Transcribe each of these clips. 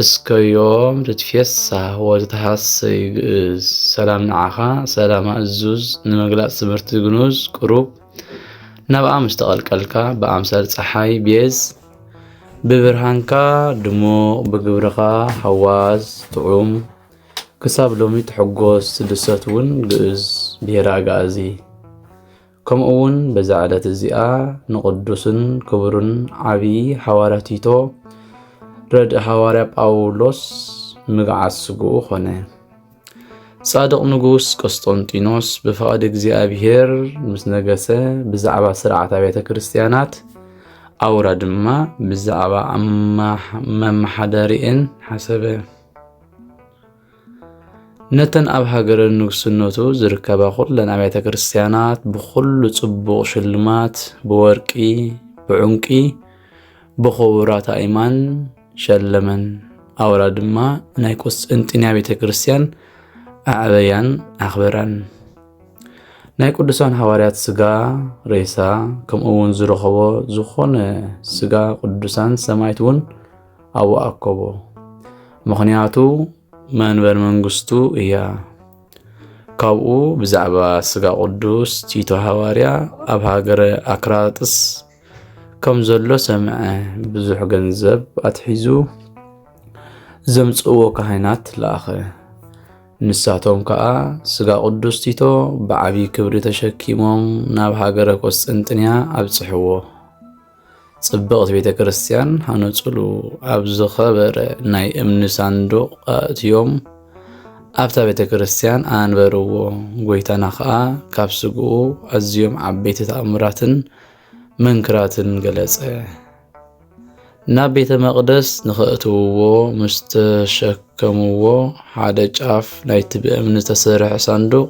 እስከ ዮም ትትፌሳህ ወትትሃሰይ ግእዝ ሰላም ንዓኻ ሰላም ኣእዙዝ ንምግላጽ ትምህርቲ ግኑዝ ቅሩብ ናብኣ ምስ ተቐልቀልካ ብኣምሳል ፀሓይ ቤዝ ብብርሃንካ ድሙቕ ብግብርኻ ሃዋዝ ጥዑም ክሳብ ሎሚ ትሕጎስ ትድሰት እውን ግእዝ ብሄረ ኣጋእዚ ከምኡውን በዛ ዕለት እዚኣ ንቕዱስን ክቡርን ዓብዪ ሓዋርያ ቲቶ ረድእ ሓዋርያ ጳውሎስ ምግዓዝ ስግኡ ኾነ። ጻድቕ ንጉስ ቆስጦንጢኖስ ብፍቓድ እግዚኣብሔር ምስ ነገሰ ብዛዕባ ስርዓት ኣብያተ ክርስቲያናት ኣውራ ድማ ብዛዕባ መመሓደሪኤን ሓሰበ። ነተን ኣብ ሃገረ ንግስነቱ ዝርከባ ኩለን ኣብያተ ክርስቲያናት ብኹሉ ጽቡቕ ሽልማት ብወርቂ ብዑንቂ ብኽቡራት ኣእማን ሸለመን። ኣውራ ድማ ናይ ቁስጥንጥንያ ቤተ ክርስቲያን ኣዕበያን ኣኽበራን። ናይ ቅዱሳን ሃዋርያት ስጋ ሬሳ ከምኡ እውን ዝረኸቦ ዝኾነ ስጋ ቅዱሳን ሰማይት እውን ኣብኡ ኣከቦ። ምኽንያቱ መንበር መንግስቱ እያ። ካብኡ ብዛዕባ ስጋ ቅዱስ ቲቶ ሃዋርያ ኣብ ሃገረ ኣክራጥስ ከም ዘሎ ሰምዐ። ብዙሕ ገንዘብ ኣትሒዙ ዘምጽእዎ ካህናት ለኣኸ። ንሳቶም ከዓ ስጋ ቅዱስ ቲቶ ብዓብዪ ክብሪ ተሸኪሞም ናብ ሃገረ ቆስጥንጥንያ ኣብጽሕዎ። ጽብቕቲ ቤተ ክርስቲያን ሃነጹሉ ኣብ ዝኸበረ ናይ እምኒ ሳንዱቕ ኣእትዮም ኣብታ ቤተ ክርስቲያን ኣንበርዎ። ጐይታና ኸኣ ካብ ስግኡ ኣዝዮም ዓበይቲ ተኣምራትን መንክራትን ገለጸ። ናብ ቤተ መቕደስ ንኸእትውዎ ምስ ተሸከምዎ ሓደ ጫፍ ናይቲ ብእምኒ ዝተሰርሐ ሳንዱቕ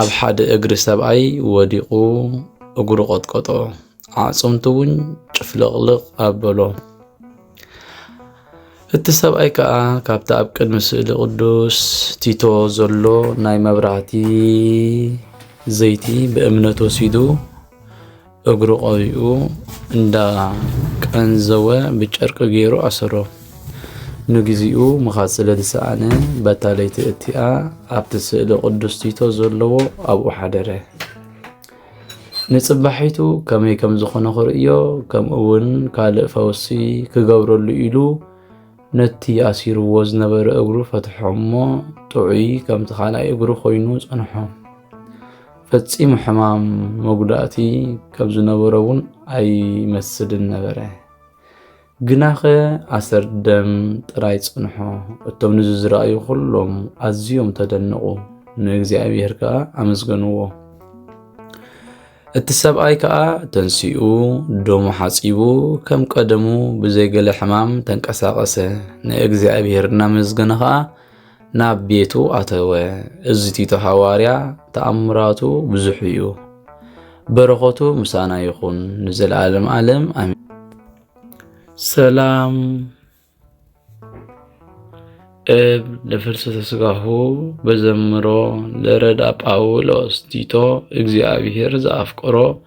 ኣብ ሓደ እግሪ ሰብኣይ ወዲቑ እግሩ ቐጥቀጦ። ኣዕፅምቱ እውን ጭፍልቕልቕ ኣበሎ። እቲ ሰብኣይ ከዓ ካብቲ ኣብ ቅድሚ ስእሊ ቅዱስ ቲቶ ዘሎ ናይ መብራህቲ ዘይቲ ብእምነት ወሲዱ እግሩ ቀቢኡ እንዳ ቀንዘወ ብጨርቂ ገይሩ ኣሰሮ። ንግዚኡ ምኻድ ስለ ዝሰኣነ በታ ለይቲ እቲኣ ኣብቲ ስእሊ ቅዱስ ቲቶ ዘለዎ ኣብኡ ሓደረ። ንጽባሒቱ ከመይ ከም ዝኾነ ክርእዮ ከምኡውን ካልእ ፈውሲ ክገብረሉ ኢሉ ነቲ ኣሲርዎ ዝነበረ እግሩ ፈትሖ እሞ ጥዑይ ከምቲ ካልኣይ እግሩ ኮይኑ ጸንሖ። ፈጺሙ ሕማም መጉዳእቲ ከም ዝነበሮ እውን ኣይመስልን ነበረ። ግናኸ ኣሰር ደም ጥራይ ጽንሖ፣ እቶም ንዚ ዝረኣዩ ኹሎም ኣዝዮም ተደነቑ፣ ንእግዚኣብሔር ከኣ ኣመስገንዎ። እቲ ሰብኣይ ከኣ ተንሲኡ ደሙ ሓጺቡ ከም ቀደሙ ብዘይገለ ሕማም ተንቀሳቐሰ፣ ንእግዚኣብሔር እናመስገነ ኸኣ ናብ ቤቱ ኣተወ። እዚ ቲቶ ሃዋርያ ተኣምራቱ ብዙሕ እዩ። በረኸቱ ምሳና ይኹን ንዘለዓለም ዓለም ኣሜን። ሰላም እብ ለፍልሰተ ስጋሁ በዘምሮ ለረዳ ጳውሎስ ቲቶ እግዚኣብሔር ዘኣፍቅሮ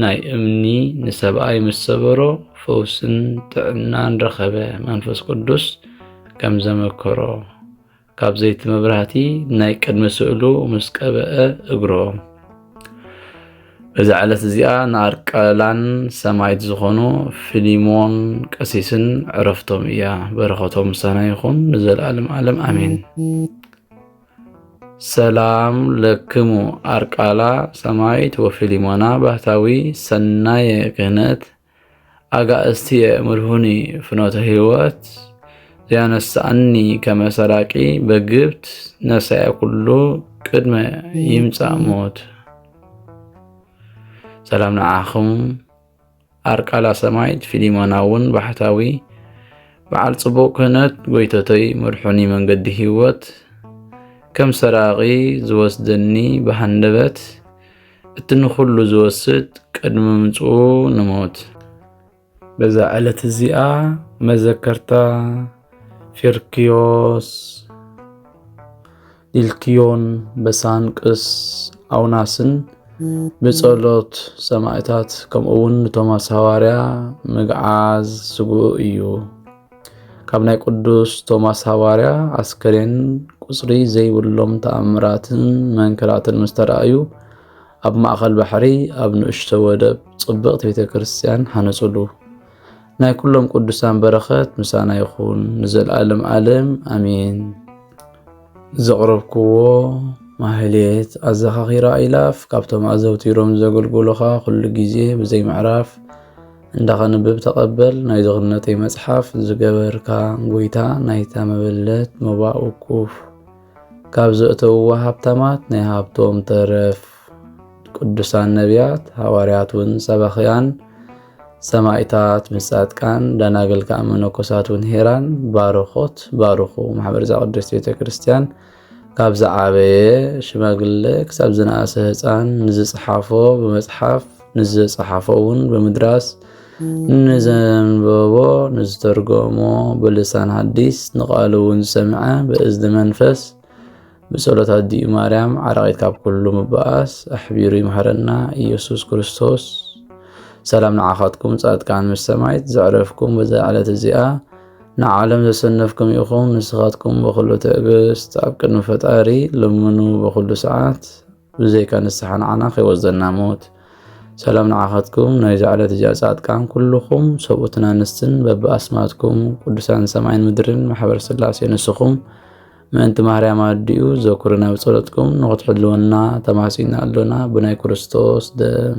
ናይ እምኒ ንሰብኣይ ምስ ሰበሮ ፈውስን ጥዕናን ረኸበ። መንፈስ ቅዱስ ከም ዘመከሮ ካብ ዘይቲ መብራህቲ ናይ ቅድሚ ስእሉ ምስ ቀበአ እግሮም እዛ ዕለት እዚኣ ንኣርቀላን ሰማይት ዝኾኑ ፊሊሞን ቀሲስን ዕረፍቶም እያ። በረኸቶም ምሳና ይኹን ንዘለኣለም ዓለም ኣሜን። ሰላም ለክሙ ኣርቃላ ሰማይት ወፊሊሞና ባህታዊ ሰናየ ክህነት ኣጋእዝትየ ምርሁኒ ፍኖተ ህይወት ዘያነሳኣኒ ከመሰራቂ በግብት ነሳያ ኩሉ ቅድመ ይምፃእ ሞት ሰላም ንዓኹም ኣርቃላ ሰማይት ፊሊሞና እውን ባሕታዊ በዓል ጽቡቕ ክህነት ጎይተተይ መድሑኒ መንገዲ ህይወት ከም ሰራቂ ዝወስደኒ ብሃንደበት እቲ ንኹሉ ዝወስድ ቅድሚ ምምፅኡ ንሞት በዛ ዕለት እዚኣ መዘከርታ ፊርክዮስ ኢልክዮን በሳንቅስ ኣውናስን ብጸሎት ሰማእታት ከምኡውን ንቶማስ ሃዋርያ ምግዓዝ ስጉኡ እዩ። ካብ ናይ ቅዱስ ቶማስ ሃዋርያ ኣስከሬን ቁጽሪ ዘይብሎም ተኣምራትን መንክራትን ምስ ተራእዩ ኣብ ማእከል ባሕሪ ኣብ ንእሽቶ ወደብ ጽብቕቲ ቤተ ክርስቲያን ሃነጹሉ። ናይ ኩሎም ቅዱሳን በረኸት ምሳና ይኹን ንዘለዓለም ዓለም ኣሜን። ዘቕረብክዎ ማህሌት ኣዘኻኺራ ኢላፍ ካብቶም ኣዘውቲሮም ዘገልግሉኻ ኩሉ ግዜ ብዘይ ምዕራፍ እንዳኸንብብ ተቐበል ናይ ዝኽነተይ መጽሓፍ ዝገበርካ ጎይታ ናይታ መበለት መባእ ውቁፍ ካብ ዘእተውዋ ሃብታማት ናይ ሃብቶም ተረፍ ቅዱሳን ነቢያት፣ ሃዋርያት ውን ሰባኽያን፣ ሰማይታት ምስ ጻድቃን፣ ደናግል ከኣ መነኮሳት ውን ሄራን ባርኾት ባርኹ። ማሕበር ዘቅድስት ቤተ ክርስቲያን ካብ ዝዓበየ ሽማግለ ክሳብ ዝነኣሰ ህፃን ንዝፅሓፎ ብመፅሓፍ ንዝፀሓፎ ውን ብምድራስ ንዘንበቦ ንዝተርጎሞ ብልሳን ሓዲስ ንቃሉ ውን ዝሰምዐ ብእዝኒ መንፈስ ብጸሎት ኣዲኡ ማርያም ዓራቒት ካብ ኩሉ ምባኣስ ኣሕቢሩ ይምሃረና ኢየሱስ ክርስቶስ። ሰላም ንዓኻትኩም ጻድቃን ምስ ሰማይት ዘዕረፍኩም በዛ ዕለት እዚኣ ንዓለም ዘሰነፍኩም ኢኹም። ንስኻትኩም ብኹሉ ትዕግስት ኣብ ቅድሚ ፈጣሪ ልምኑ ብኹሉ ሰዓት ብዘይካ ንስሓ ንዓና ከይወዘና ሞት ሰላም ንዓኻትኩም ናይዛ ዕለት እዚኣ ጻድቃን ኩልኹም ሰብኡትን ኣንስትን በብኣስማትኩም ቅዱሳን ሰማይን ምድርን ማሕበር ስላሴ ንስኹም ምእንቲ ማርያም ኣዲኡ ዘኩርና ብጸሎትኩም ንኽትሕልወና ተማሲና ኣሎና ብናይ ክርስቶስ ደም